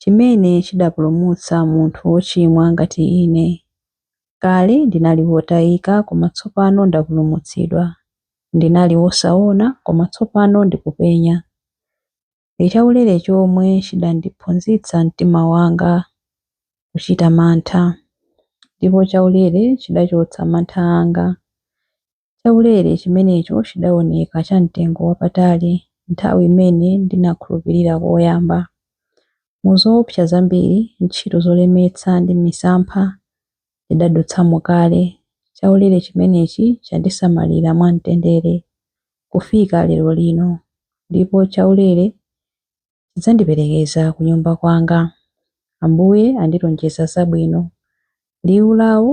chimene chidapulumutsa munthu wochimwa ngati ine. Kale ndinali wotayika, koma tsopano ndapulumutsidwa. Ndinali wosaona, koma tsopano ndikupenya. Ndi chaulere chomwe chidandiphunzitsa mtima wanga kuchita mantha. Ndipo chaulere chidachotsa mantha anga. Chaulere chimenecho chidawoneka cha mtengo wapatali nthawi imene ndinakhulupirira koyamba. Mu zoopsa zambiri, ntchito zolemetsa ndi misampha ndidadutsamo kale, chaulere chimenechi chandisamalira mwa mtendere kufika lero lino, ndipo chaulere chidzandiperekeza kunyumba kwanga. Ambuye andilonjeza zabwino. Liwu lawo?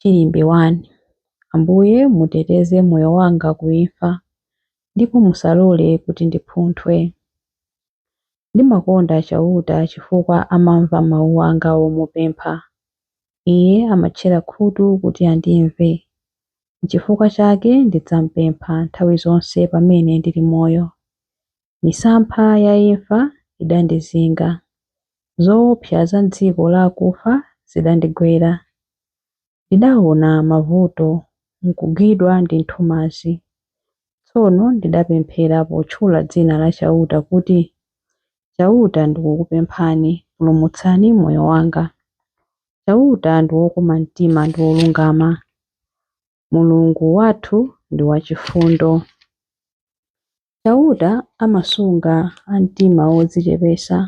Chilimbi 1. Ambuye, muteteze moyo wanga ku imfa, ndipo musalole kuti ndipunthwe. Ndimakonda Chauta chifukwa amamva mau anga omupempha. Iye amatchera khutu kuti andimve. Nchifukwa chake ndidzampempha nthawi zonse pamene ndili moyo. Misampha ya imfa idandizinga, zoopsa za m'dziko la akufa zidandigwera. Ndidaona mavuto, nkugwidwa ndi nthumazi. Tsono ndidapemphera potchula dzina la Chauta kuti, Chauta ndikukupemphani, pulumutsani moyo wanga. Chauta ndi wokoma mtima ndi wolungama. Mulungu wathu ndi wachifundo. Chauta amasunga a mtima wodzichepesa.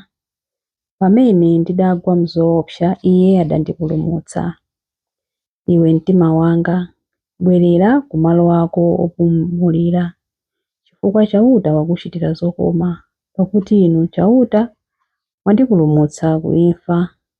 Pamene ndidagwa m'zoopsa, Iye adandipulumutsa. Iwe mtima wanga, bwerera ku malo ako opumulira, chifukwa Chauta wakuchitira zokoma, pakuti Inu Chauta mwandipulumutsa ku imfa,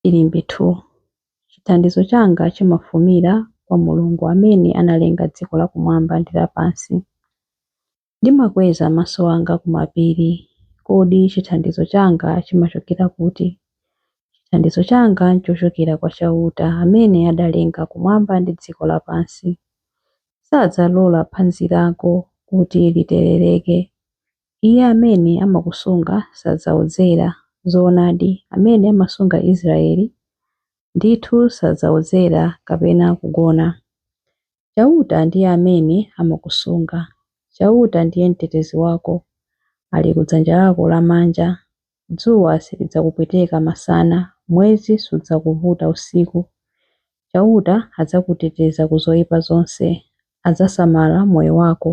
Chilimbi 2 Chithandizo changa chimafumira kwa Mulungu amene analenga dziko lakumwamba ndi lapansi. Ndimakweza maso anga ku mapiri, Kodi chithandizo changa chimachokera kuti? Chithandizo changa n'chochokera kwa Chauta amene adalenga kumwamba ndi dziko lapansi. Sadzalola phazi lako kuti literereke, Iye amene amakusunga sadzaodzera, zoonadi, amene amasunga Israyeli, ndithu sadzaodzera kapena kugona. Chauta ndiye amene amakusunga, Chauta ndiye mtetezi wako, ali ku dzanja lako lamanja. Dzuwa silidzakupweteka masana, mwezi sudzakuvuta usiku. Chauta adzakuteteza ku zoipa zonse, adzasamala moyo wako.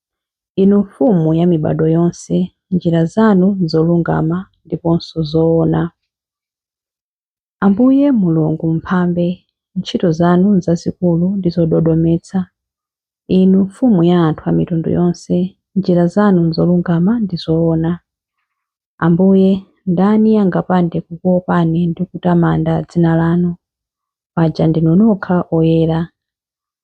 Inu Mfumu ya mibadwo yonse, njira zanu n'zolungama ndiponso zoona. Ambuye Mulungu Mphambe, ntchito zanu n'zazikulu ndi zododometsa. Inu Mfumu ya anthu a mitundu yonse, njira zanu n'zolungama ndi zoona. Ambuye, ndani angapande kukuopani ndi kutamanda dzina lanu? Paja ndinu nokha oyera.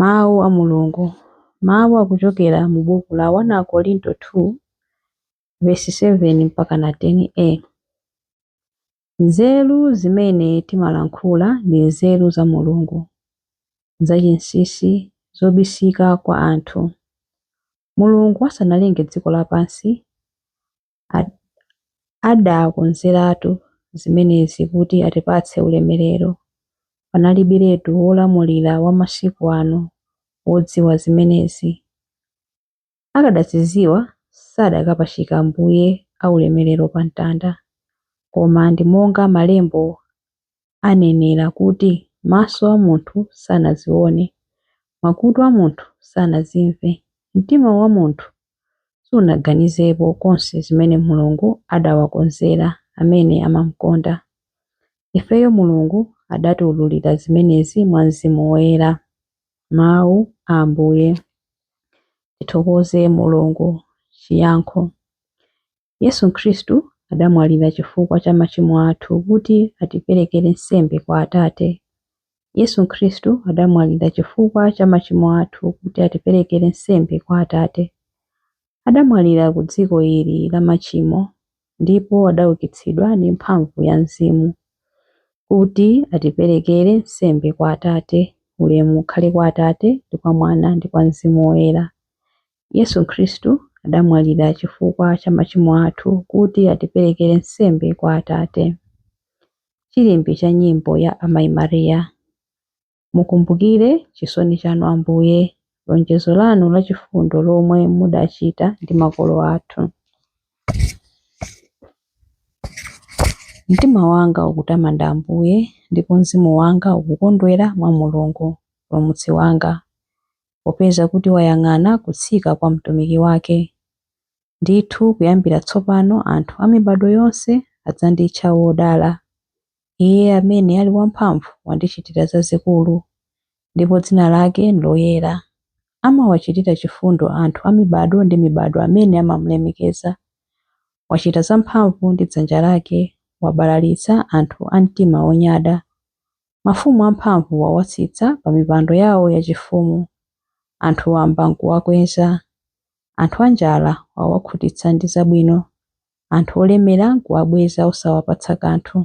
Mawu a Mulungu. Mawu akuchokera mu buku la 1 Akorinto 2 vesi 7 mpaka na 10a. Nzeru zimene timalankhula ndi nzeru za Mulungu, zachinsinsi, zobisika kwa anthu. Mulungu asanalenge dziko lapansi, adakonzeratu zimenezi kuti atipatse ulemerero. Panalibiretu wolamulira wa masiku ano wodziwa zimenezi. Akadazidziwa, sadakapachika Ambuye aulemerero pa mtanda. Koma ndi monga Malembo anenera kuti, Maso a munthu sanazione, makutu a munthu sanazimve, mtima wa munthu sunaganizepo konse zimene Mulungu adawakonzera amene amamkonda. Ifeyo Mulungu adatiwululira zimenezi mwa Mzimu Woyera. Mawu a Ambuye. Tithokoze Mulungu. Chiyankho Yesu Khristu adamwalira chifukwa cha machimo athu kuti atiperekere nsembe kwa Atate. Yesu Khristu adamwalira chifukwa cha machimo athu kuti atiperekere nsembe kwa Atate. Adamwalira ku dziko ili la machimo ndipo adaukitsidwa ndi mphamvu ya Mzimu kuti atiperekere nsembe kwa Atate. Ulemu ukhale kwa Atate, ndi kwa Mwana, ndi kwa Mzimu Woyera. Yesu Khristu adamwalira chifukwa cha machimo athu kuti atiperekere nsembe kwa Atate. Chilimbi cha nyimbo ya Amayi Maria. Mukumbukire chisoni chanu Ambuye, lonjezo lanu la chifundo lomwe mudachita ndi makolo athu. Mtima wanga ukutamanda Ambuye, ndipo mzimu wanga ukukondwera mwa Mulungu, Mpulumutsi wanga. popeza kuti wayang'ana kutsika kwa Mtumiki wake. Ndithu kuyambira tsopano anthu a mibadwo yonse adzanditcha wodala. Iye amene ali wamphamvu wandichitira zazikulu, ndipo dzina lake nloyera. Amawachitira chifundo anthu a mibadwo ndi mibadwo amene amamulemekeza. Wachita zamphamvu ndi dzanja lake, wabalalitsa anthu a mtima wonyada. Mafumu amphamvu wawatsitsa pamipando yawo yachifumu, anthu wamba n'kuwakweza. Anthu anjala wawakhutitsa ndi zabwino, anthu olemera n'kuwabweza osawapatsa kanthu.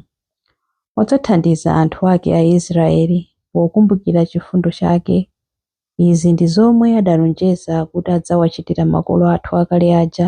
Wadzathandiza anthu ake Aisiraeli pokumbukira chifundo chake. Izi ndi zomwe adalonjeza kuti adzawachitira makolo athu akale aja,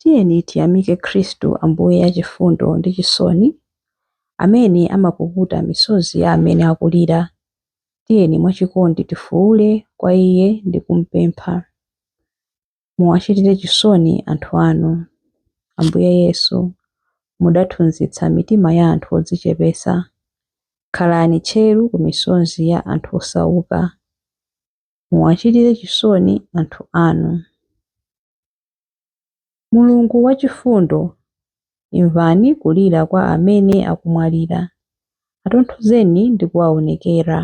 Tiyeni tiyamike Khristu Ambuye achifundo ndi chisoni, amene amapukuta misozi ya amene akulira. Tiyeni mwachikondi tifuule kwa Iye ndi kumpempha. Muwachitire chisoni anthu anu. Ambuye Yesu, mudathunzitsa mitima ya anthu odzichepetsa. Khalani tcheru ku misozi ya anthu osauka. Muwachitire chisoni anthu anu. Mulungu wachifundo, imvani kulira kwa amene akumwalira, atonthozeni ndi kuwaonekera.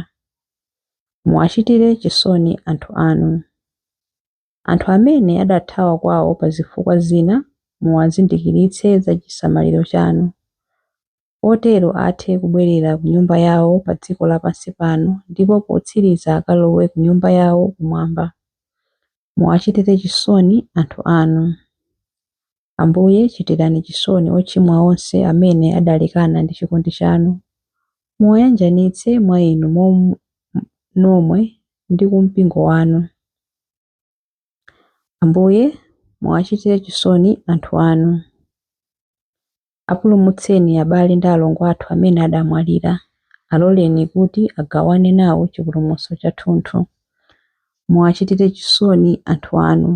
Muwachitire chisoni anthu anu. Anthu amene adathawa kwawo pa zifukwa zina muwazindikiritse za chisamaliro chanu. otero athe kubwerera ku nyumba yawo pa dziko lapansi pano ndipo potsiriza akalowe ku nyumba yawo kumwamba. Muwachitire chisoni anthu anu. Ambuye, chitirani chisoni ochimwa onse amene adalekana ndi chikondi chanu. Muwayanjanitse mwa Inu nomwe ndi ku mpingo wanu. Ambuye, muwachitire chisoni anthu anu. Apulumutseni abale ndi alongo athu amene adamwalira. Aloleni kuti agawane nawo chipulumutso chathunthu. Muwachitire chisoni anthu anu.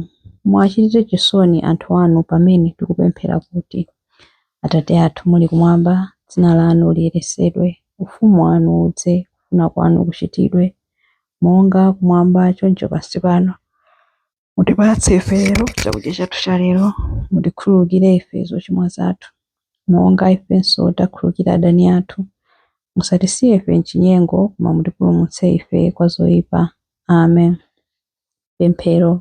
Muwachitire chisoni anthu anu pamene tikupemphera kuti, Atate athu muli kumwamba, dzina lanu liyeretsedwe, ufumu wanu udze, kufuna kwanu kuchitidwe. monga kumwamba choncho pansi pano. Mutipatse ife lero chakudya chathu cha lero, mutikhululukire ife zochimwa zathu, monga ifenso takhululukira adani athu. Musatisiye ife m'chinyengo, koma mutipulumutse ife kwa zoyipa. Amen. Pemphero.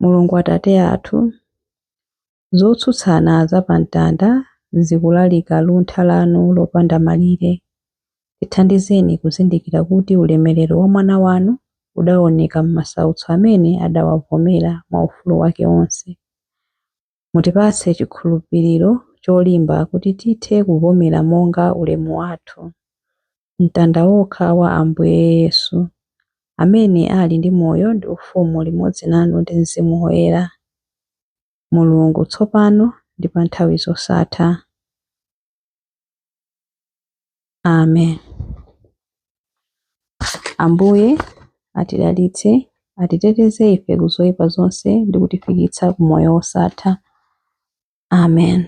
Mulungu Atate athu, zotsutsana za pa mtanda zikulalika luntha lanu lopanda malire. Tithandizeni kuzindikira kuti ulemerero wa Mwana wanu udaoneka m'masautso amene adawavomera mwa ufulu wake wonse. Mutipatse chikhulupiriro cholimba kuti tithe kuvomera monga ulemu wathu mtanda wokha wa Ambuye Yesu, amene ali ndi moyo ndi ufumu limodzi nanu ndi Mzimu Woyera. Mulungu, tsopano ndi pa nthawi zosatha. Amen. Ambuye atidalitse, atiteteze ife ku zoyipa zonse ndi kutifikitsa ku moyo wosatha. Amen.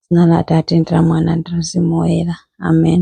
Dzina la Atate ndi la Mwana ndi la Mzimu Woyera. Amen.